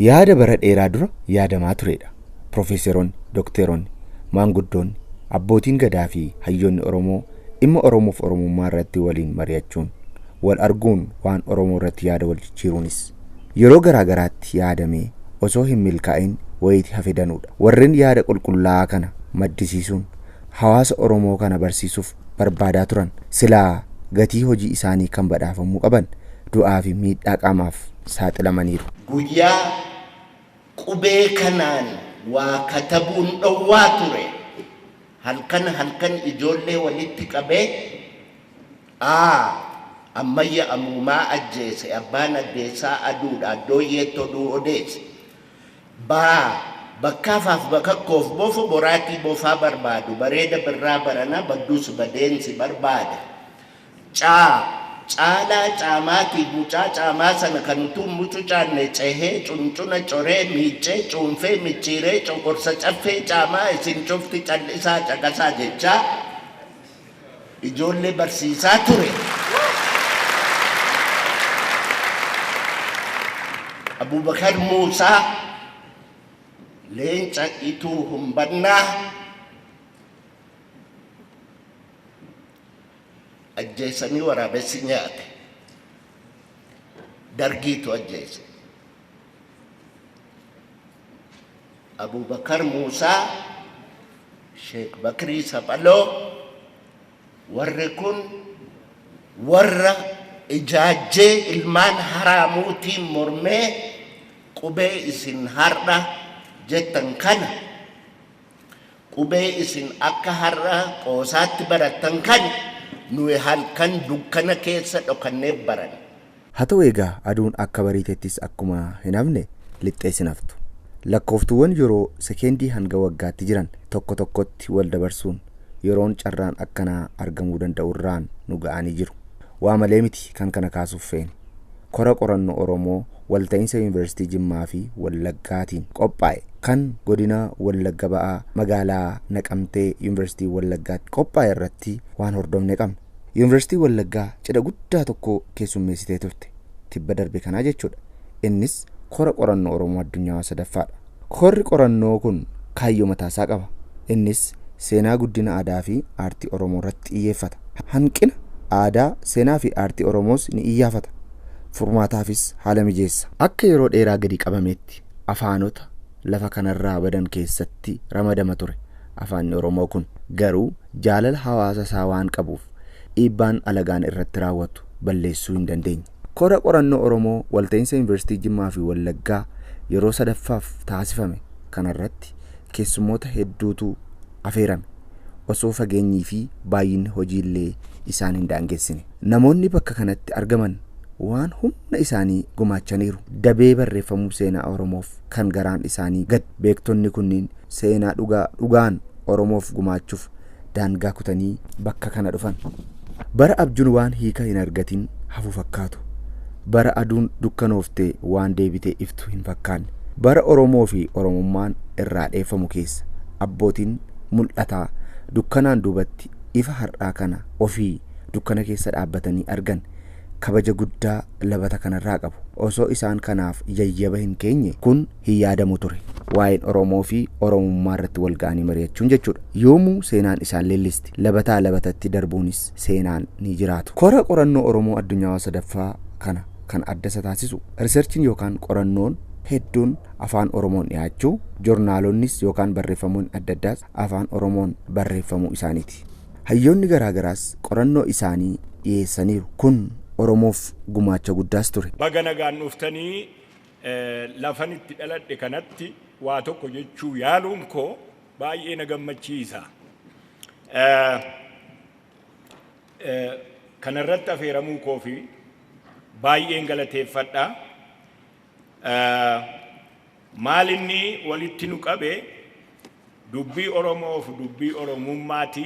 Yaada bara dheeraa dura yaadamaa tureedha. Pirofeeseroonni, dokteeronni, maanguddoonni, abbootiin gadaa fi hayyoonni Oromoo dhimma Oromoof Oromummaa irratti waliin mari'achuun, wal arguun waan Oromoo irratti yaada wal jijjiiruunis Yeroo garaa garaatti yaadamee osoo hin milkaa'in wayiti hafe danuudha. Warren yaada qulqullaa'aa kana maddisiisuun hawaasa Oromoo kana barsiisuuf barbaadaa turan silaa gatii hojii isaanii kan badhaafamuu qaban du'aa fi miidhaa qaamaaf saaxilamaniiru. Guyyaa qubee kanaan waa katabuun dhowwaa ture. Halkan halkan ijoollee walitti qabee A. Ammayya Amuumaa ajjeese Abbaan Addeessaa Aduudha Addooyyeetti oduu odeesse. B. Bakkaa faaf Bakakkoof Bofo Boraatii Bofaa barbaadu Bareeda Birraa Barana baddus badeen si barbaada. C. Caalaa Caamaatiif Mucaa Caamaa sana kan utuu hin mucucaanne cehee, cuncuna coree, miiccee, cuunfee, micciiree, coqorsa Caffee Caamaa isin cufti cal'isaa caqasaa jechaa, ijoollee barsiisaa ture. Abubakar Muusaa, Leenca Ituu Humbannaa, ajjeesanii waraabessi nyaate. Dargiitu ajjeese. Abubakar Muusaa, Sheek Bakrii Saphaloo, warri kun warra ijaajjee ilmaan haraamuutiin mormee qubee isin har'a jettan kana Qubee isin akka har'a qoosaatti barattan kana nuyi halkan dukkana keessa dhokannee baranna. Haa ta'u egaa aduun akka bariitettis akkuma hin hafne lixxees hin haftu. Lakkooftuuwwan yeroo sekeendii hanga waggaatti jiran tokko tokkotti wal dabarsuun yeroon carraan akkanaa argamuu danda'u irraan nu ga'anii jiru. Waa malee miti kan kana kaasuuf feene. Kora Qoranno Oromoo Walta'insa Yuunivarsiitii Jimmaa fi Wallaggaatiin qophaa'e kan Godina Wallagga Ba'aa Magaalaa Naqamtee Yuunivarsiitii Wallaggaatti qophaa'e irratti waan hordofne qabna. Yuunivarsiitiin Wallaggaa cidha guddaa tokko keessummeessitee turte. Tibba darbe kana jechuudha. Innis Kora Qoranno Oromoo Addunyaawaa 3ffaadha. Korri qorannoo kun kaayyoo mataasaa qaba. Innis seenaa guddina aadaafi aartii Oromoorratti xiyyeeffata. Hanqina aadaa, seenaafi aartii Oromoos ni iyyaafata. Furmaataafis haala mijeessa. Akka yeroo dheeraa gadi qabameetti afaanota lafa kanarraa badan keessatti ramadama ture. Afaanni Oromoo kun garuu jaalala hawaasa isaa waan qabuuf dhiibbaan alagaan irratti raawwatu balleessuu hin dandeenye. Kora Qorannoo Oromoo Walta'iinsa Yuunivarsiitii Jimmaa fi Wallaggaa yeroo 3ffaaf taasifame kanarratti keessummoota hedduutu afeerame. Osoo fageenyii fi baay'inni hojiillee isaan hin daangessine. Namoonni bakka kanatti argaman waan humna isaanii gumaachaniiru. Dabee barreeffamuu seenaa Oromoof kan garaan isaanii gad beektonni kunniin seenaa dhugaa dhugaan Oromoof gumaachuuf daangaa kutanii bakka kana dhufan. Bara abjuun waan hiika hin argatin hafu fakkaatu. Bara aduun dukkanooftee waan deebitee iftu hin fakkaanne. Bara Oromoo fi Oromummaan irraa dheeffamu keessa abbootiin mul'ataa dukkanaan duubatti ifa har'aa kana ofii dukkana keessa dhaabbatanii argan kabaja guddaa labata kanarraa qabu. Osoo isaan kanaaf yayyaba hin keenye kun hin yaadamu ture. Waa'een Oromoo fi Oromummaa irratti wal ga'anii mari'achuun jechuudha. Yoomuu seenaan isaan leellisti. Labataa labatatti darbuunis seenaan ni jiraatu. Kora Qorannoo Oromoo Addunyaawaa 3ffaa kana kan adda isa taasisu, riserchiin yookaan qorannoon hedduun Afaan Oromoon dhiyaachuu, jornaalonnis yookaan barreeffamoonni adda addaas Afaan Oromoon barreeffamuu isaaniiti. Hayyoonni garaa garaas qorannoo isaanii dhiyeessaniiru. Kun Oromoof gumaacha guddaas ture. Baga nagaan dhuftanii Lafan itti dhaladhe kanatti waa tokko jechuu yaaluun koo baay'ee na gammachiisa. Kana irratti afeeramuu koof baay'een galateeffadha. Maal inni walitti nu qabe dubbii Oromoof dubbii Oromummaati.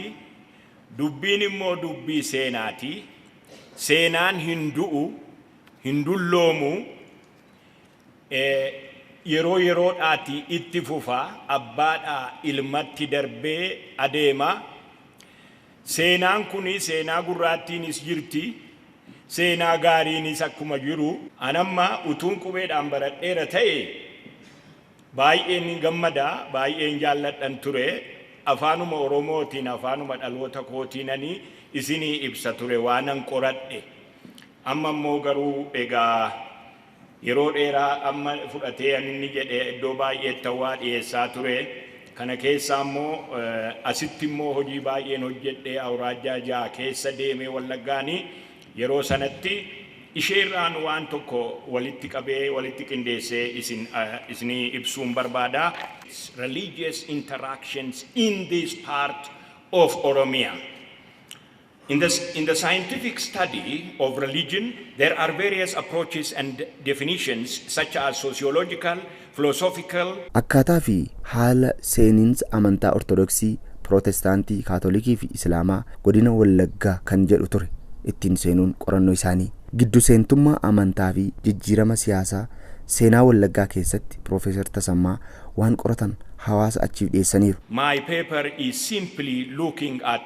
Dubbiin immoo dubbii seenaati. Seenaan hin du'u. hin dulloomu e yeroo yeroodhaati itti fufa abbaadhaa ilmatti darbee adeema seenaan kun seenaa gurraattiinis jirti seenaa gaariinis akkuma jiru. An amma utuun qubeedhaan baradheera ta'e baay'een gammada baay'een jaalladhan ture afaanuma oromootiin afaanuma dhaloota kootiinani isinii ibsa ture waanan qoradhe Amma immoo garuu egaa yeroo dheeraa amma fudhatee an inni jedhe iddoo baay'eetti hawaa dhiyeessaa ture. Kana keessaa immoo asitti immoo hojii baay'een hojjedhe awuraajjaa 6 keessa deemee Wallaggaani yeroo sanatti ishee irraan waan tokko walitti qabee walitti qindeessee isin isinii ibsuun barbaada. religious interactions in this part of Oromia. In the in the scientific study of religion there are various approaches and definitions such as sociological, philosophical, Akkaataa fi haala seeniinsa amantaa Ortodoksii, Pirootestaantii, Kaatolikii fi Isilaamaa Godina Wallaggaa kan jedhu ture ittiin seenuun qorannoo isaanii. Giddu seentummaa amantaa fi jijjiirama siyaasaa seenaa Wallaggaa keessatti Piroofeesar Tasammaa waan qoratan hawaasa achiif dhiyeessaniiru. My paper is simply looking at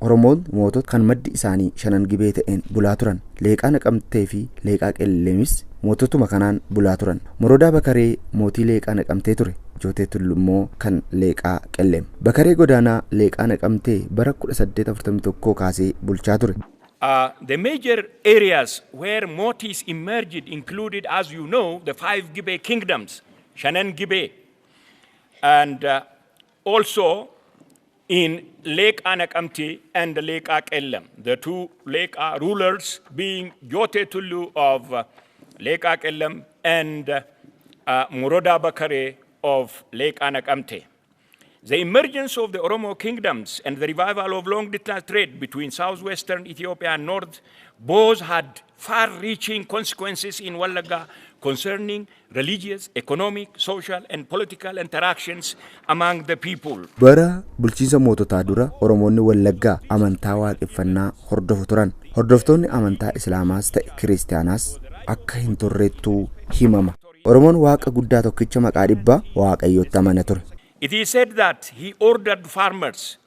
Oromoon mootota kan maddi isaanii Shanan Gibee ta'een bulaa turan. Leeqaa Naqamteefi Leeqaa Qellemis moototuma kanaan bulaa turan. Morodaa Bakaree mootii Leeqaa Naqamtee ture. Jootee Tullu immoo kan Leeqaa Qellem. Bakaree Godaanaa Leeqaa Naqamtee bara 1841 kaasee bulchaa ture. A. The major areas where Mootiis emerged included as you know the five Gibee kingdoms, Shanan Gibee, and Also in Leeqaa Naqamte and Leeqaa Qellem, the two Leeqaa rulers being Jootee Tulluu of Leeqaa Qellem and uh, Morodaa Bakaree of Leeqaa Naqamte. The emergence of the Oromo kingdoms and the revival of long distance trade between southwestern Ethiopia and north both had far-reaching consequences in Wallagga concerning religious, economic, social and political interactions among the people. Bara bulchiinsa moototaa dura Oromoonni Wallaggaa amantaa Waaqeffannaa hordofu turan. Hordoftoonni amantaa Islaamaas ta'e Kiristiyaanaas akka hin turrettuu himama. Oromoon Waaqa guddaa tokkicha maqaa dhibbaa Waaqayyootti amana ture. It is said that he ordered farmers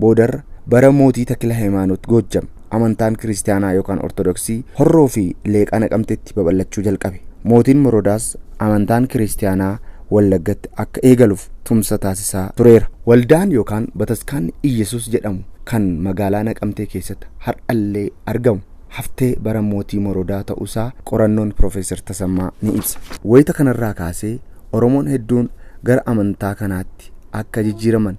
Boodarra, bara mootii Takilahaymaanot Goojjam, amantaan Kiristiyaanaa yookaan Ortodoksii Horroo fi Leeqaa Naqamteetti babal'achuu jalqabe. Mootiin Morodaas amantaan Kiristiyaanaa Wallaggatti akka eegaluf tumsa taasisaa tureera. Waldaan yookaan Bataskaanni Iyyesuus jedhamu kan magaalaa Naqamtee keessatti har'allee argamu haftee bara mootii Morodaa ta'uusaa qorannoon Pirofeesar Tasammaa ni ibsa. Wayita kanarraa kaasee Oromoon hedduun gara amantaa kanaatti akka jijjiiraman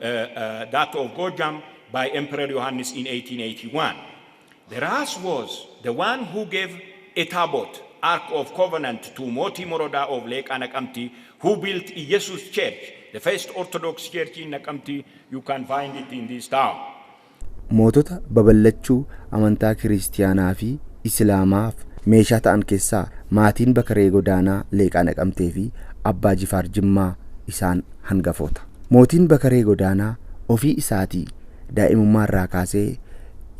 Daattoo of Goojjaam by Emperor Yohaannis in 1881. The Raas was the one who gave a Taabot, Ark of Covenant, to Mootii Morodaa of Leeqaa Naqamti who built Iyyesuus Church, the first Orthodox Church in Naqamti, you can find it in this town. Mootota babal'achuu amantaa Kiristiyaanaa fi Isilaamaaf meeshaa ta'an keessaa maatiin Bakaree Godaanaa Leeqaa Naqamtee fi Abbaa Jifaar Jimmaa isaan hangafoota. Mootiin Bakaree Godaanaa ofii isaatii daa'imummaa irraa kaasee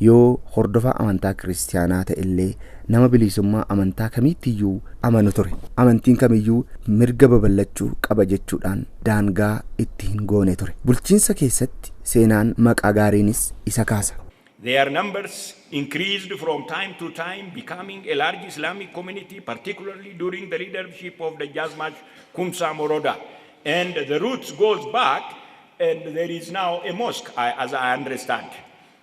yoo hordofaa amantaa Kiristiyaanaa ta'ellee nama biliisummaa amantaa kamiittiyyuu amanu ture. Amantiin kamiyyuu mirga baballachuu qaba jechuudhaan daangaa itti hin goone ture. Bulchiinsa keessatti seenaan maqaa gaariinis isa kaasa. Their numbers increased from time to time becoming a large Islamic community particularly during the leadership of Dajjazmach Kumsa Moroda and the roots goes back and there is now a mosque as I understand.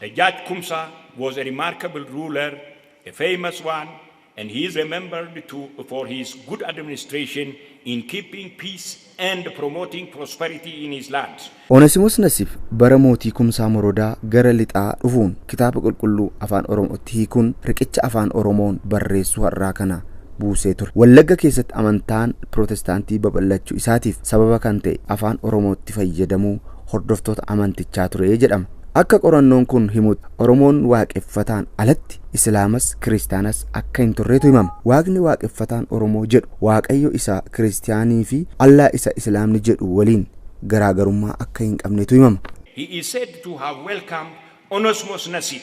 The Judge Kumsa was a remarkable ruler, a famous one, and he is remembered to for his good administration in keeping peace and promoting prosperity in his lands. Onesimos Nasib bara mootii Kumsaa Morodaa gara lixaa dhufuun Kitaaba Qulqulluu Afaan Oromootti hiikuun riqicha Afaan Oromoon barreessuu har'aa kana buusee ture. Wallagga keessatti amantaan Pirootestaantii babal'achuu isaatiif sababa kan ta'e Afaan Oromootti fayyadamuu hordoftoota amantichaa ture jedhama. Akka qorannoon kun himutti Oromoon waaqeffataan alatti Islaamas Kiristaanas akka hin turreetu himama. Waaqni waaqeffataan Oromoo jedhu Waaqayyo isa Kiristiyaanii fi Allah isa Islaamni jedhu waliin garaagarummaa akka hin qabnetu himama. He is said to have welcomed Onesmus Nasib,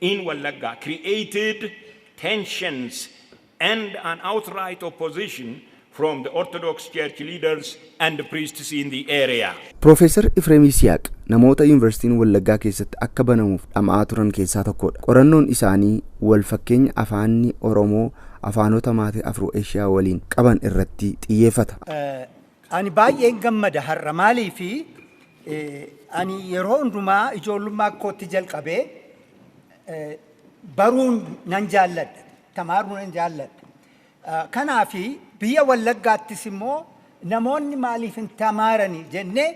in Wallagga created tensions and an outright opposition from the Orthodox Church leaders and priests in the area. Piroofeesar Ifreem Yisihaaq namoota Yuunivarsiitiin Wallaggaa keessatti akka banamuuf dhama'aa turan keessaa tokkoodha. Qorannoon isaanii wal fakkeenya afaanni Oromoo afaanota maate Afro-Eshiyaa waliin qaban irratti xiyyeeffata. Ani baay'een gammada har'a maaliifi ani yeroo hundumaa ijoollummaa kootti jalqabee baruun nan jaalladha tamaaruu nan jaalladha kanaafi biyya wallaggaattis immoo namoonni maaliif hin tamaarani jennee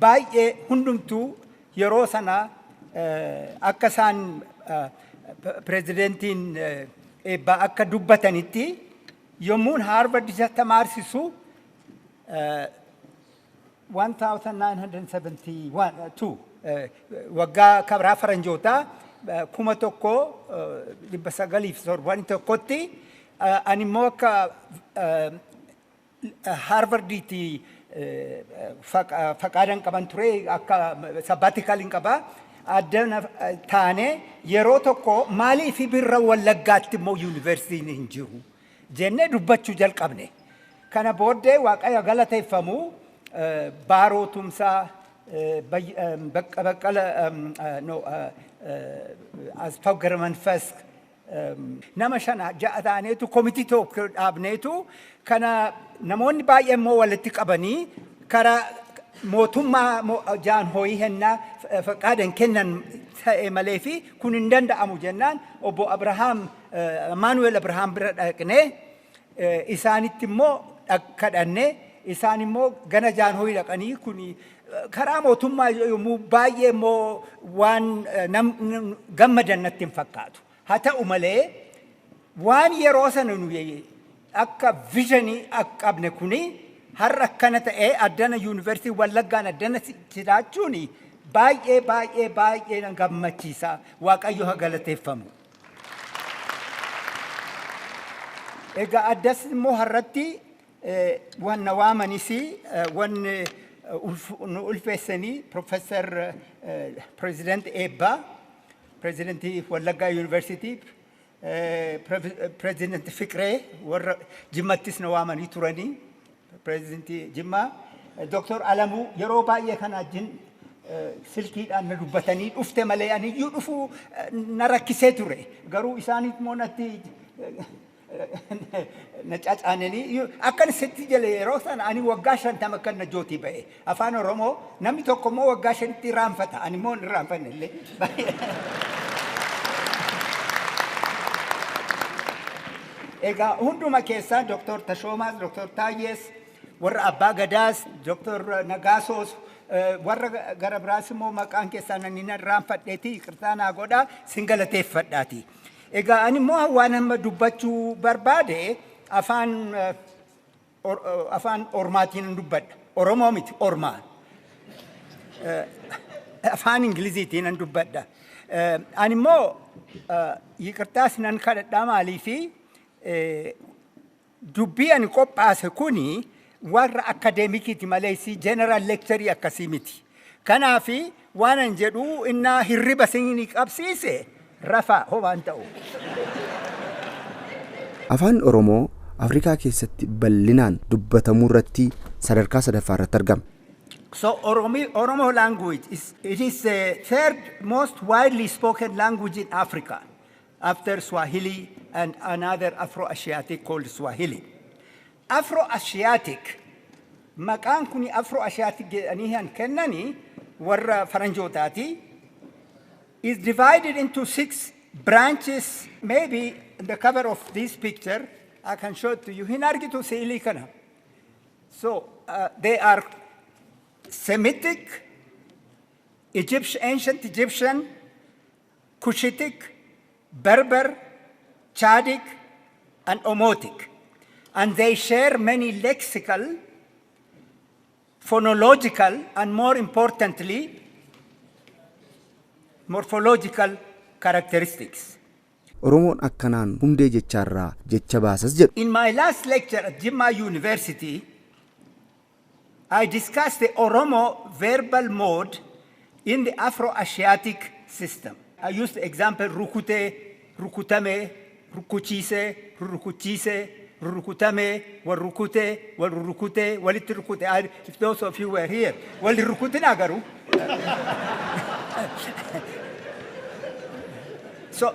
baay'ee hundumtuu yeroo sana akka isaan pirezidentiin eebbaa akka dubbatanitti yommuun haarvard isa tamaarsisu 1972 waggaa kabraa faranjootaa 1971tti ani immoo akka haarvardiitti faqaadan qaban ture akka sabbaatikaaliin qaba adda taane yeroo tokko maaliif birra wallaggaatti immoo yuunivarsiitiin hin jiru jennee dubbachuu jalqabne. Kana booddee Waaqayyo galateeffamu Baaroo Tumsaa, Baqqala Asfaw Garamanfas nama shan ja'a taaneetu komitii tokko dhaabneetu kana namoonni baay'ee immoo walitti qabanii karaa mootummaa jaan hoyii hennaa faqaadan kennan ta'e malee fi kun hin danda'amu jennaan obbo Abrahaam Amaanu'el Abrahaam bira dhaqnee isaanitti immoo kadhanne isaan immoo gana jaanhoyi dhaqanii kun karaa mootummaa yommuu baay'ee immoo waan gammadan natti hin fakkaatu. Haa ta'u malee waan yeroo sana nuyi akka vizhinii qabne kuni har'a akkana ta'ee addana yuunivarsiitii Wallaggaan addana jiraachuun baay'ee baay'ee baay'ee na gammachiisa. Waaqayyo haa galateeffamu. Egaa addas immoo har'atti wanna waamanis wanni nu ulfeessanii Professor President Eebbaa, President Wallaggaa University, President Fiqree warra Jimmattis na waamanii turanii. Pireezidantii Jimmaa Doktor Alamuu yeroo baay'ee kana wajjin silkiidhaan na dubbatanii dhufte malee aniyyuu dhufuu na rakkisee ture. Garuu isaan immoo natti na cacaananii akkan sitti jale yeroo sana ani waggaa shantama akkan najjootii ba'e. Afaan Oromoo namni tokko immoo waggaa shanitti irraanfata. Ani immoo hin irraanfanne illee. Egaa hunduma keessaan Dr. Tashoomaas, Dr. Taayyees, warra Abbaa Gadaas, Dr. Nagaasoos, eh, warra gara biraas immoo maqaan keessaan ani nan irraanfadheeti yikirtaa naa godhaa sin galateeffadhaati. Egaa ani immoo waan amma dubbachuu barbaade afaan eh, Or- o- afaan ormaatiin hin dubbadha. Oromoo miti ormaa. Eh, afaan Ingiliziitiin hin dubbadha. Eh, Ani immoo eh, yiqirtaa sinan kadhadhaa maaliifi eh, dubbii ani qophaase kuni warra akadeemikiiti malee si general lecture akkasii miti. Kanaaf waanan jedhu innaa hirriba isinii qabsiise rafaa homaan ta'u. Afaan Oromoo Afrikaa keessatti bal'inaan dubbatamuurratti sadarkaa sadaffaarratti argama. So Oromo language is it is the third most widely spoken language in Africa after Swahili and another Afro-Asiatic called Swahili. Afro-Asiatic, Maqaan kuni Afro-Asiatic jedhanii kan kennani warra faranjootaati. Is divided into six branches. Maybe in the cover of this picture I can show it to you. Hin argitu si'ilii kana. So uh, they are Semitic, Egyptian, ancient Egyptian, Cushitic, Berber, Chadic, and Omotic, and they share many lexical, phonological, and more importantly, morphological characteristics. Oromoon akkanaan hundee jechaarraa jecha baasas jedhu. In my last lecture at Jimma University, I discuss the Oromo verbal mode in the Afro-Asiatic system. I use the example rukute, rukutame, rukkuchiise, rurrukuchiise, rurrukutame, wal rukute, wal rurrukute, walitti rukute. I- If those of you were here, wal hin rukutinaa garuu. So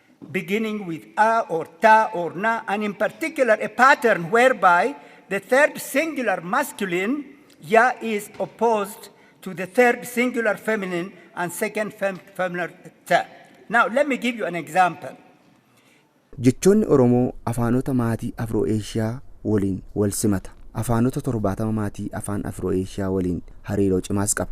beginning with a or ta or na and in particular a pattern whereby the third singular masculine ya is opposed to the third singular feminine and second fem feminine ta. Now let me give you an example. Jechoonni Oromoo afaanota maatii Afroo-Eeshiyaa waliin walsimata. Afaanota 70 maatii afaan Afroo-Eeshiyaa waliin hariiroo cimaas qaba.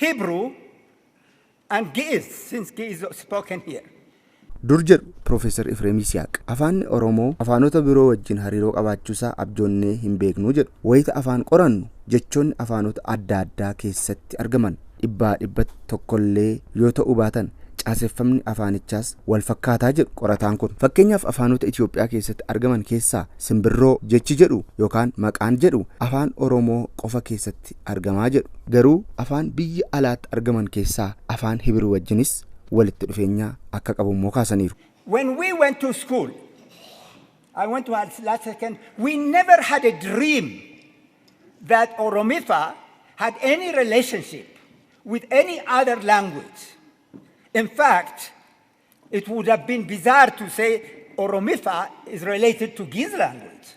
Hebrew and Ge'ez, since Ge'ez is spoken here. Dur jedhu Piroofeesar Ifreem Yisihaaq. Afaanni Oromoo afaanota biroo wajjin hariiroo qabaachuusaa abjoonnee hinbeeknu jedhu. Wayita afaan qorannu jechoonni afaanota adda addaa keessatti argaman dhibbaa dhibbatti tokkollee yoo ta'uu baatan caaseffamni afaanichaas walfakkaataa jedhu qorataan kun. Fakkeenyaaf afaanota Itoophiyaa keessatti argaman keessaa simbirroo jechi jedhu yookaan maqaan jedhu Afaan Oromoo qofa keessatti Giriikitti argama jedhu. Garuu afaan biyya alaatti argaman keessaa afaan Hibiruu wajjinis walitti dhufeenya akka qabu immoo kaasaniiru. When we went to school, I want to add last second, we never had a dream that Oromifa had any relationship with any other language. In fact, it would have been bizarre to say Oromifa is related to Giz language.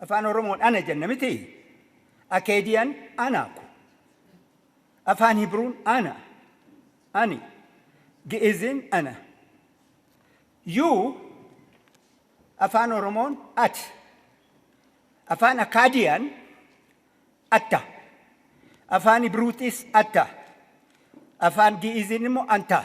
Afaan Oromoon ana jenna mitii? Akeediyan ana ko. Afaan Hibruun ana, ani. Gi'izin ana. You Afaan Oromoon ati. Afaan Akaadiyan atta. Afaan Hibruutis atta. Afaan Gi'izin immoo anta.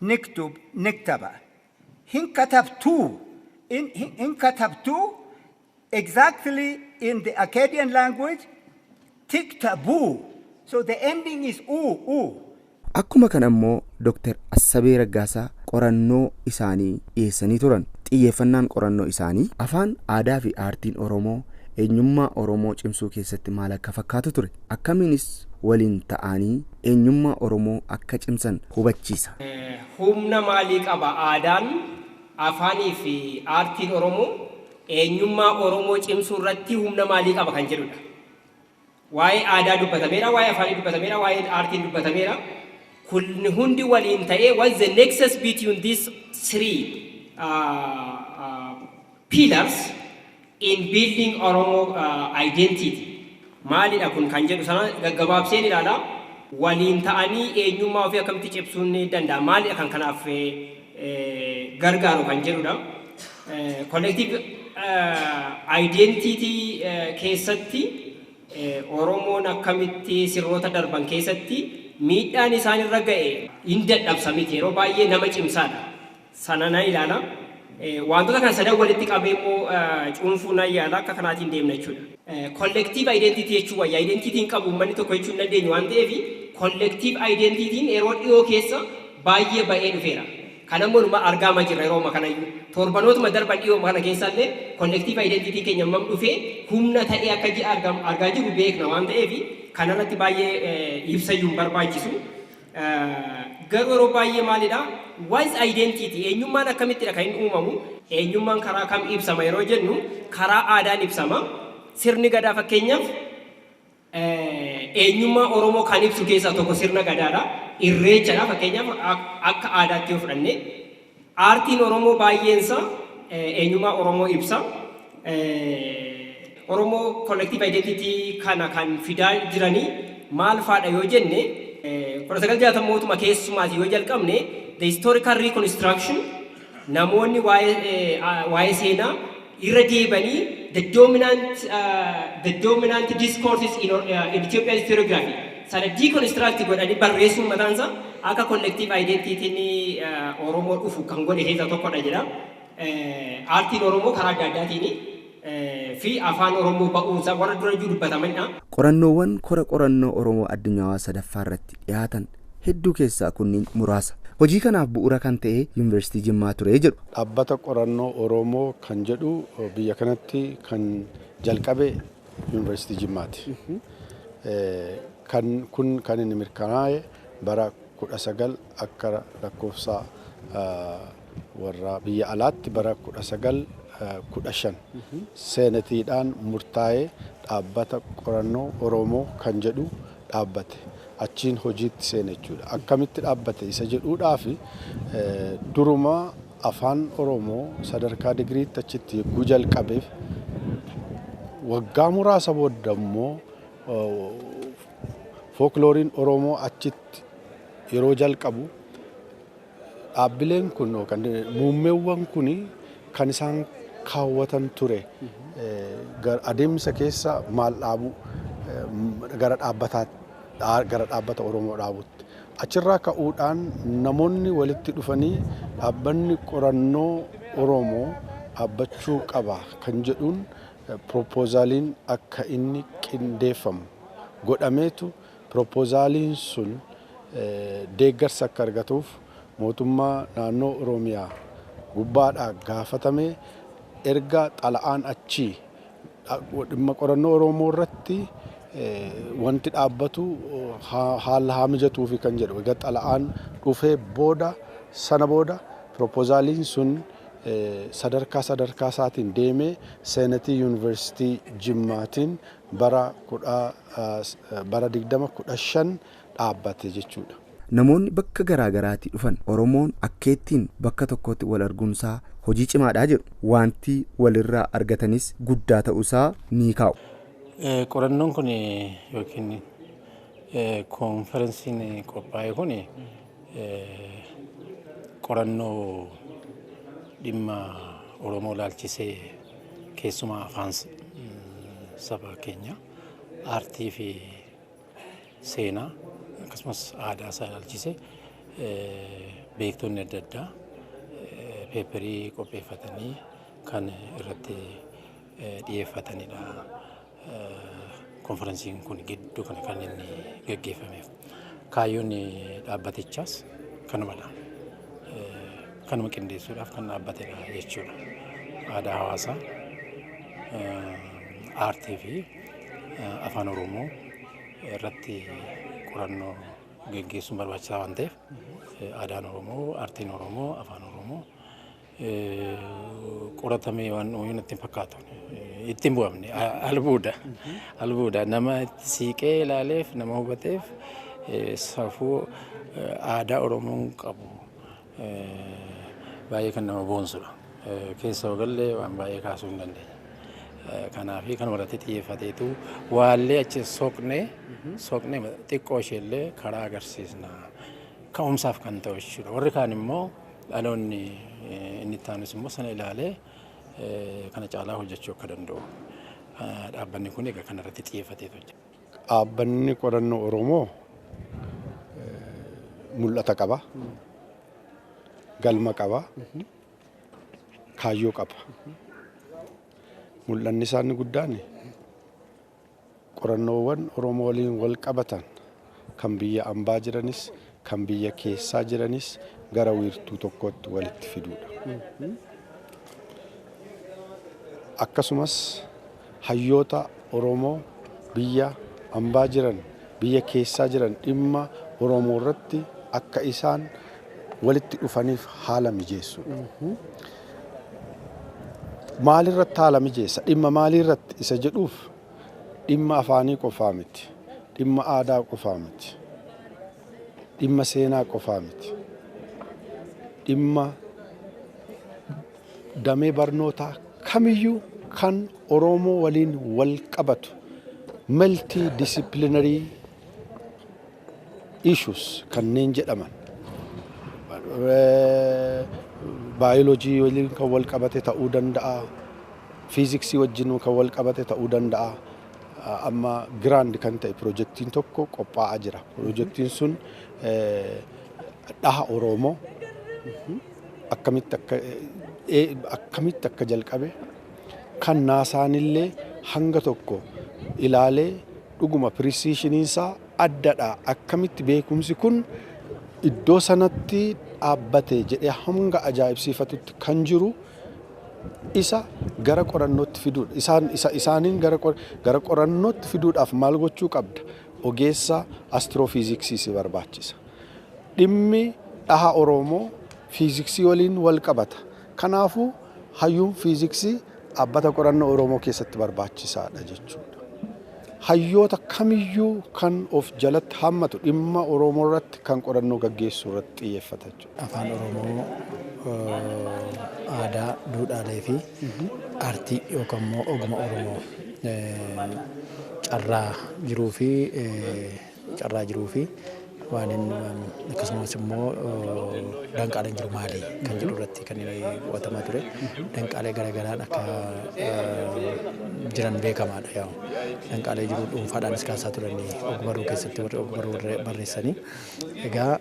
Niktub, niktaba. Hin katabtu, in, hin, hin katabtu, exactly in the Akkadian language, tiktabu. So the ending is u, u. Akkuma kana immoo Dr. Assabee Raggaasaa qorannoo isaanii dhiyeessanii turan. Xiyyeeffannaan qorannoo isaanii afaan, aadaafi aartiin Oromoo eenyummaa Oromoo cimsuu keessatti maal akka fakkaatu ture. akkamiinis waliin ta'aanii eenyummaa Oromoo akka cimsan hubachiisa. Humna maalii qaba? Aadaan, afaanii fi aartiin Oromoo eenyummaa Oromoo cimsuu irratti humna maalii qaba kan jedhu dha. Waa'ee aadaa dubbatameera, waa'ee afaanii dubbatameera, waa'ee aartiin dubbatameera. Kun hundi waliin ta'ee what's the nexus between these three uh, uh, Pillars in building Oromo identity maalidha kun kan jedhu sana gaggabaabseen ilaala. Waliin ta'anii eenyummaa ofii akkamitti cimsuun danda'ama? Maalidha kan kanaaf gargaaru kan jedhudha. Collective identity keessatti Oromoon akkamitti sirnoota darban keessatti miidhaan isaan irra ga'e hin dadhabsa miti yeroo baay'ee nama cimsaadha. sana nan ilaala. Waantota kana sadan walitti qabee immoo cuunfuu nan yaala. Akka kanaatiin deemna jechuudha. Collective identity jechuu wayya. Identity hin qabu uummanni tokko jechuu hin dandeenyu waan ta'eef collective identity'n yeroo dhiyoo keessa baay'ee ba'ee dhufeera. Kana immoo numa argaama jirra yeroo amma kana iyyuu. Torbanootuma darban dhiyoo kana keessa illee collective identity keenya hammam dhufee humna ta'ee akka ji'a argaa jiru beekna waan ta'eef kanarratti baay'ee ibsa iyyuu hin barbaachisu. Garuu yeroo baay'ee maalidha? What is identity? Eenyummaan akkamittidha kan inni uumamu? Eenyummaan karaa kam ibsama yeroo jennu, karaa aadaan ibsama. Sirni Gadaa fakkeenyaaf eenyummaa Oromoo kan ibsu keessaa tokko sirna Gadaadha. Irreechadha fakkeenyaaf akka aadaatti yoo fudhanne. Aartiin Oromoo baay'een isaa eenyummaa Oromoo ibsa. Oromoo collective identity kana kan fidaa jiranii maal faadha yoo jenne 1960mootuma keessumaati yoo jalqabne the historical reconstruction namoonni waa'ee seenaa irra deebanii the dominant discourses in, uh, in Ethiopian historiography sana deconstruct godhanii barreessuun mataan isaa akka collective identity ni uh, Oromoo dhufu kan godhe keessaa tokkodha jedha. Uh, Aartiin Oromoo karaa adda addaatiin uh, fi afaan Oromoo ba'uunsaa warra dura iyyuu dubbatamanidha. Qorannoowwan kora qorannoo Oromoo addunyaawaa sadaffaa irratti dhiyaatan hedduu keessaa kunniin muraasa. Hojii kanaaf bu'uura kan ta'e Yuunivarsiitii Jimmaa ture jedhu. Dhaabbata Qorannoo Oromoo kan jedhu biyya kanatti kan jalqabe Yuunivarsiitii Jimmaati. Kan kun kan inni mirkanaa'e bara 19 akka lakkoofsa warra biyya alaatti bara 1915 seenetiidhaan murtaa'ee Dhaabbata Qorannoo Oromoo kan jedhu dhaabbate. achiin hojiitti seene jechuudha. Akkamitti dhaabbate isa jedhuudhaaf duruma Afaan Oromoo sadarkaa digiriitti achitti yogguu jalqabeef waggaa muraasa booda immoo fooklooriin Oromoo achitti yeroo jalqabu Dhaabbileen kun yookaan muummeewwan kun kan isaan kaawwatan ture adeemsa keessa maal dhaabuu gara dhaabbataa gara dhaabbata Oromoo dhaabutti. Achirraa ka'uudhaan namoonni walitti dhufanii dhaabbanni qorannoo Oromoo dhaabbachuu qaba kan jedhuun piroopoozaaliin akka inni qindeeffamu godhameetu Piropozaaliin sun deeggarsa akka argatuuf mootummaa naannoo Oromiyaa gubbaadhaa gaafatame erga xalayaan achii dhimma qorannoo Oromoo irratti wanti dhaabbatu haala haa mijatuufi kan jedhu erga xalayaan dhufee booda sana booda piropozaaliin sun sadarkaa sadarkaa isaatiin deemee seenatii yuunivarsiitii Jimmaatiin bara 20, 15 dhaabbate jechuudha. Namoonni bakka garaa garaatii dhufan Oromoon akkeettiin bakka tokkootti wal arguunsaa hojii cimaadha jedhu. Waanti walirraa argatanis guddaa ta'uusaa ni kaa'u. Qorannoon kun yookiin konferensiin qophaa'e kun Qorannoo dhimma Oromoo ilaalchisee keessumaa afaan saba keenya aartii fi seenaa akkasumas aadaa isaa ilaalchisee beektonni adda addaa peeperii qopheeffatanii kan irratti dhiyeeffatanidha. Konfaransiin kun gidduu kana kan inni gaggeeffameef kaayyoon dhaabbatichaas kanumadha. Kanuma qindeessuudhaaf kan dhaabbatedha jechuudha. Aadaa hawaasaa, aartii fi afaan Oromoo irratti qorannoo gaggeessuun barbaachisaa waan ta'eef aadaan Oromoo, aartiin Oromoo, afaan Oromoo qoratamee waan ooyuu natti hin fakkaatu. Itti hin bu'amne albuuda. Albuuda nama itti siiqee ilaaleef nama hubateef safuu aadaa Oromoon qabu baay'ee kan nama boonsudha. Keessa ogallee waan baay'ee kaasuu hin dandeenya. Kanaaf kan irratti xiyyeeffateetu waallee achi soqnee soqnee xiqqoo isheellee karaa agarsiisna. Ka'umsaaf kan ta'u jechuudha. Warri kaan immoo Dhaloonni inni itti aanus immoo sana ilaalee kana caalaa hojjechuu akka danda'u dhaabbanni kun egaa kanarratti xiyyeeffatee hojjeta. Dhaabbanni qorannoo Oromoo mul'ata qaba, galma qaba, kaayyoo qaba. Mul'anni isaa inni guddaan Qorannoowwan Oromoo waliin walqabatan kan biyya ambaa jiranis kan biyya keessaa jiranis gara wiirtuu tokkootti walitti fiduudha. Akkasumas hayyoota Oromoo biyya ambaa jiran, biyya keessaa jiran dhimma Oromoorratti akka isaan walitti dhufaniif haala mijeessuudha. Maalirratti haala mijeessa? Dhimma maaliirratti isa jedhuuf dhimma afaanii qofaa miti, dhimma aadaa qofaa miti, dhimma seenaa qofaa miti, dhimma damee barnootaa kamiyyuu kan Oromoo waliin wal qabatu multi disciplinary issues kanneen jedhaman baayoloojii waliin kan wal qabate ta'uu danda'a, fiiziksii wajjin kan wal qabate ta'uu danda'a. Amma giraand kan ta'e pirojektiin tokko qophaa'aa jira. Pirojektiin sun dhaha Oromoo akkamitti akka akkamitti akka jalqabe kan naasaanillee hanga tokko ilaalee Dhuguma pirisiishiniinsaa addadha. Akkamitti beekumsi kun iddoo sanatti dhaabbate jedhee hanga ajaa'ibsiifatutti kan jiru isa gara qorannootti fiduudha. Isaan, isa, isaaniin gara, qor- gara qorannootti fiduudhaaf maal gochuu qabda? Ogeessa astiroofiiziksii si barbaachisa. Dhimmi dhaha Oromoo fiiziksii waliin wal qabata. Kanaafuu, hayyuun fiiziksii dhaabbata qorannoo Oromoo keessatti barbaachisaadha jechuudha. Hayyoota kamiyyuu kan of jalatti hammatu dhimma Oromoorratti kan qorannoo gaggeessuurratti xiyyeeffata jechuudha. Afaan Oromoo, aadaa, duudhaaleefi aartii yookanimmoo oguma Oromoo carraa jiruufi. Carraa jiruu fi waan hin akkasumas immoo danqaaleen jiru maali kan jedhu irratti kan qo'atamaa ture. Danqaalee garaagaraan akka jiran beekamaadha yaa'u. Danqaalee jiru dhuunfaadhaanis kaasaa turanii ogbarruu keessatti warri ogbarruu barreessanii. Egaa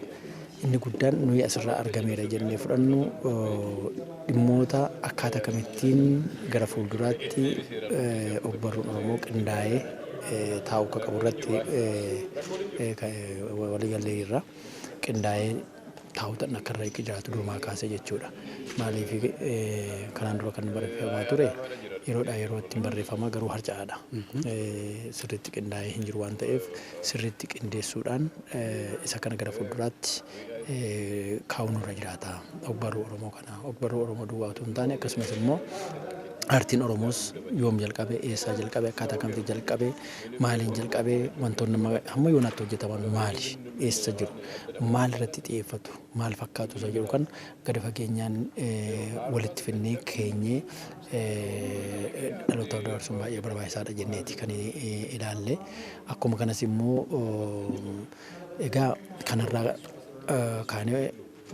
Inni guddaan nuyi asirraa argameera jennee fudhannu dhimmoota akkaataa kamittiin gara fuulduraatti ogbarruun Oromoo qindaa'ee taa'uu akka qabu irratti waliigallee irra qindaa'ee taa'uutan akka irra jiraatu durumaa kaasee jechuudha. Maaliif kanaan dura kan barreeffamaa ture yeroodhaa yerootti hin barreeffama garuu harca'aadha. Sirriitti qindaa'ee hin jiru waan ta'eef sirriitti qindeessuudhaan Isa kana gara fuulduraatti kaa'uun nurra jiraata. Ogbarruu Oromoo kana ogbarruu Oromoo duwwaa utuu hin taane akkasumas immoo aartiin Oromoos yoom jalqabe, eessaa jalqabe, akkaataa kamitti jalqabe, maaliin jalqabe, wantoonni amma hamma yoonaatti hojjetaman maali, eessa jiru, maal irratti xiyyeeffatu, maal fakkaatu isa jedhu kana gadi fageenyaan walitti finnee keenyee dhalootaaf dabarsuun baay'ee barbaachisaadha jenneeti kan ilaalle. Akkuma kanas immoo egaa kanarraa kaanee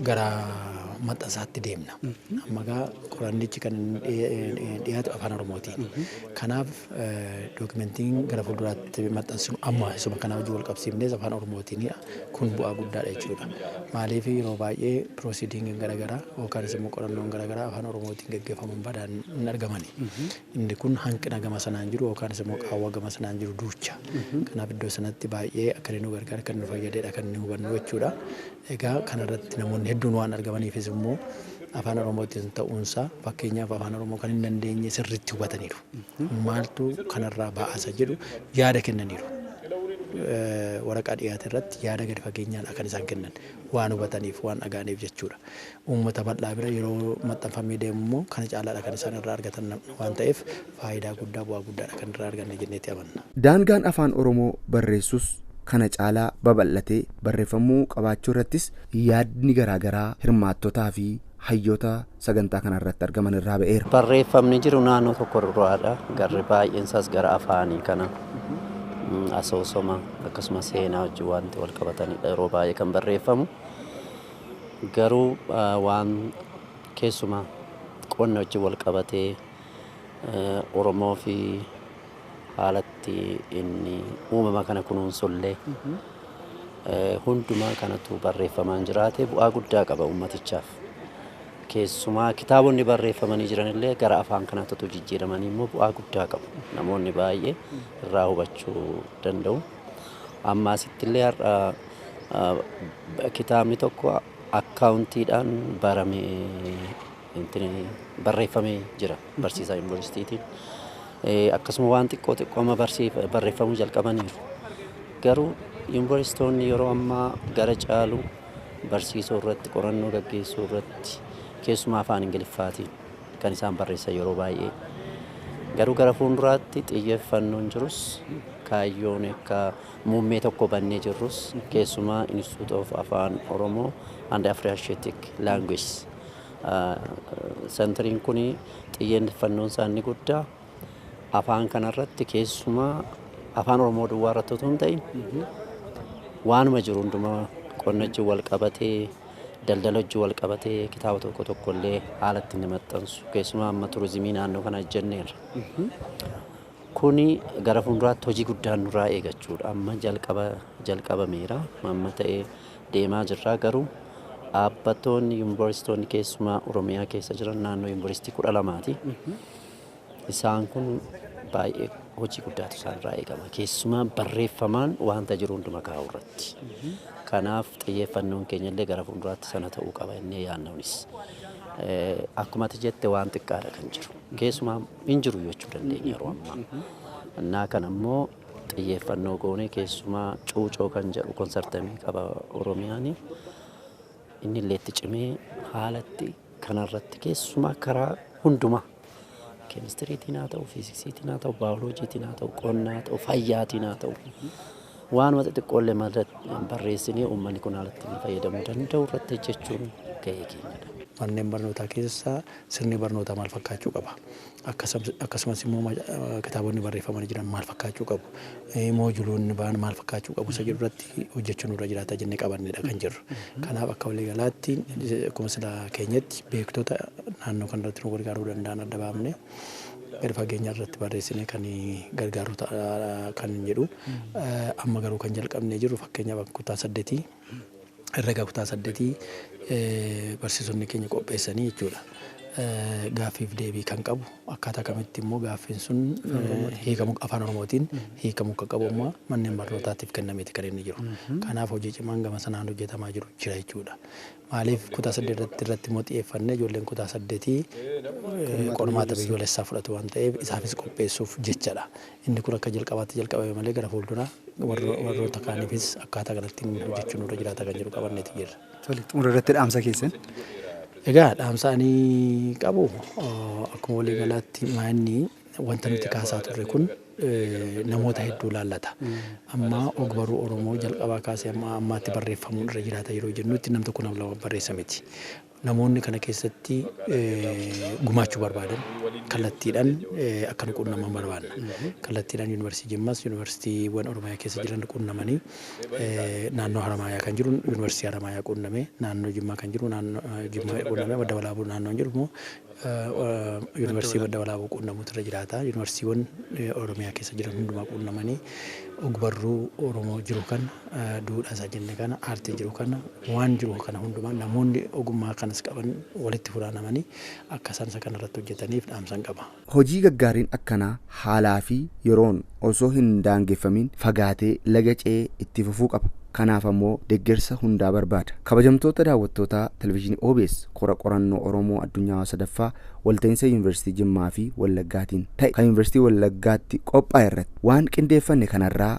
gara maxxansaatti deemna. Amma egaa qorannichi kan dhiyaatu afaan Oromootiin. Kanaaf dookimentiin gara fuulduraatti maxxansinu amma isuma kana wajjin wal qabsiifnees afaan Oromootiin Kun bu'aa guddaadha jechuudha. Maaliif yeroo baay'ee proceeding garagaraa yookaanis immoo qorannoon garagaraa afaan oromootiin gaggeeffaman badaan hin argamani. Inni kun hanqina gama sanaan jiru yookaanis immoo qaawwa gama sanaan jiru duucha. Kanaaf iddoo sanatti baay'ee akka inni nu gargaare akka inni nu fayyadedha kan inni hubannu jechuudha. Egaa kanarratti namoonni hedduun waan argamaniifis immoo afaan oromootiin ta'uunsaa fakkeenyaaf afaan oromoo kan hin dandeenye sirriitti hubataniiru. maaltu kanarraa ba'asa jedhu yaada kennaniiru. Waraqaa dhiyaate irratti yaada gadi fageenyaan kan isaan kennan waan hubataniif waan dhaga'aniif jechuudha. Uummata bal'aa bira yeroo maxxanfamee deemu immoo kana caalaadha kan isaan irraa argatan waan ta'eef faayidaa guddaa bu'aa guddaadha kan irraa arganne jenneetti amanna. Daangaan Afaan Oromoo barreessus kana caalaa babal'atee barreeffamuu qabaachuu irrattis yaadni garaa garaa hirmaattotaafi hayyoota sagantaa kana irratti argaman irraa ba'eera. Barreeffamni jiru naannoo tokko irraadha. Garri baay'een isaas gara afaanii kana mm, asoosama akkasumas seenaa wajjin wanti wal qabatanidha yeroo baay'ee kan barreeffamu. Garuu ah, waan keessuma qonna wajjin wal qabatee eh, Oromoo fi haalatti inni uumama kana kunuunsullee eh, hundumaa kanatu barreeffamaan jiraate bu'aa guddaa qaba uummatichaaf. Keessumaa kitaabonni barreeffamanii jiran illee gara afaan kanaatti utuu jijjiiramanii immoo bu'aa guddaa qabu. Namoonni baay'ee irraa hubachuu danda'u. Amma asitti illee har'a kitaabni tokko akkaawuntiidhaan baramee barreeffamee jira barsiisaa yuunivarsiitiitiin. Akkasuma waan xiqqoo xiqqoo amma barreeffamuu jalqabaniiru. Garuu yuunivarsiitoonni yeroo ammaa gara caalu barsiisuu irratti, qorannoo gaggeessuu irratti keessumaa afaan Ingiliffaatiin kan isaan barreessan yeroo baay'ee. Garuu gara fuulduraatti xiyyeeffannoon jirus kaayyoon akka muummee tokko bannee jirrus keessumaa Institute of Afaan Oromoo and Afriasiatic Languages. Sentariin kun xiyyeeffannoon isaa inni guddaa afaan kanarratti keessumaa afaan Oromoo duwwaa irratti utuu hin ta'in waanuma jiru hundumaa qonna wajjin wal qabatee daldala wajjin wal qabatee kitaaba tokko tokko illee haala ittiin ni maxxansu keessumaa amma turizimii naannoo kana hojjenneerra. Kuni gara fuulduraatti hojii guddaan nurraa eegachuudha amma jalqaba jalqabameera amma ta'ee deemaa jirra garuu dhaabbattoonni yuunivarsiitoonni keessumaa Oromiyaa keessa jiran naannoo yuunivarsiitii kudha lamaati. Isaan kun baay'ee hojii guddaatu isaan irraa eegama. Keessumaa barreeffamaan wanta jiru hunduma kaa'uu irratti. Kanaaf xiyyeeffannoon keenya illee gara fuulduraatti sana ta'uu qaba innee yaannuunis. Akkuma ati jette waan xiqqaadha kan jiru. Keessumaa hin jiru jechuu dandeenya yeroo ammaa. Innaa kana immoo xiyyeeffannoo goonee keessumaa cuucoo kan jedhu konsartamii qaba Oromiyaanii. Innillee itti cimee haalatti kanarratti keessumaa karaa hundumaa keemistiriitiin haa ta'u, fiiziksiitiin haa ta'u, baayoloojiitiin haa ta'u, qonnaa haa ta'u, fayyaatiin haa ta'u waanuma xixiqqoollee mata barreessinee uummanni kun haalatti inni fayyadamuu danda'u irratti hojjechuun gahee keenyadha. Manneen barnootaa keessaa Sirni barnootaa maal fakkaachuu qaba? Akkasumas immoo kitaabonni barreeffamanii jiran maal fakkaachuu qabu? Moojuloonni ba'an maal fakkaachuu qabu? Isa jedhu irratti hojjechuu nurra jiraata jennee qabannedha kan jirru. Kanaaf akka waliigalaatti akkuma sila keenyatti beektota naannoo kanarratti nu gargaaruu danda'an adda baafnee gadi fageenya irratti barreessinee kan gargaaru ta'a kan jedhu. Amma garuu kan jalqabnee jirru fakkeenyaaf kutaa saddeetii herrega kutaa saddetii barsiisonni keenya qopheessanii jechuudha. Gaaffiif deebii kan qabu akkaataa kamitti immoo gaaffiin sun hiikamu afaan oromootiin hiikamu akka qabu immoo manneen barnootaatiif kennameeti kan inni jiru. Kanaaf hojii cimaan gama sanaan hojjetamaa jiru jira jechuudha. Maaliif kutaa saddeet irratti irratti immoo xiyyeeffannee ijoolleen kutaa saddetii qormaata biyyoolessaa fudhatu waan ta'eef isaafis qopheessuuf jechadha. Inni kun akka jalqabaatti jalqabame malee gara fuulduraa warroota kaaniifis akkaataa kanattiin hojjechuun nurra jiraata kan jedhu qabanneeti jirra. Tole, xumura irratti dhaamsa keessan. Egaa dhaamsa ani qabu akkuma walii galaatti maa'inni wanta nuti kaasaa turre kun namoota hedduu laallata. Amma ogbarruu Oromoo jalqabaa kaasee amma ammaatti barreeffamuun irra jiraata yeroo jennutti nam tokko nam lama barreessa miti. Namoonni kana keessatti gumaachuu barbaadan kallattiidhaan akka nu quunnaman barbaanna. Kallattiidhaan Yuunivarsiitii Jimmaas, Yuunivarsiitiiwwan Oromiyaa keessa jiran quunnamanii naannoo Haramaayaa kan jiru Yuunivarsiitii Haramaayaa quunnamee, naannoo Jimmaa kan jiru Jimmaa quunnamee, Madda Walaabuu naannoon jiru immoo, Yuunivarsiitii Madda Walaabuu quunnamuutu irra jiraata. Yuunivarsiitiiwwan Oromiyaa keessa jiran hundumaa quunnamanii ogbarruu Oromoo jiru kana, duudhaa isaa jenne kana, aartii jiru kana, waan jiru kana hundumaa namoonni ogummaa kanas qaban walitti funaanamanii akka isaan isa kana irratti hojjetaniif dhaamsan qaba. Hojii gaggaariin akkanaa haalaa fi yeroon osoo hin daangeffamiin fagaatee laga ce'ee itti fufuu qaba. Kanaaf ammoo deggersa hundaa barbaada. Kabajamtoota daawwattootaa Televizhiinii obs kora qorannoo Oromoo Addunyaawaa 3ffaa walta'iinsa Yuunivarsiitii Jimmaa fi Wallaggaatiin ta'e kan Yuunivarsiitii Wallaggaatti qophaa'e irratti waan qindeeffanne kanarraa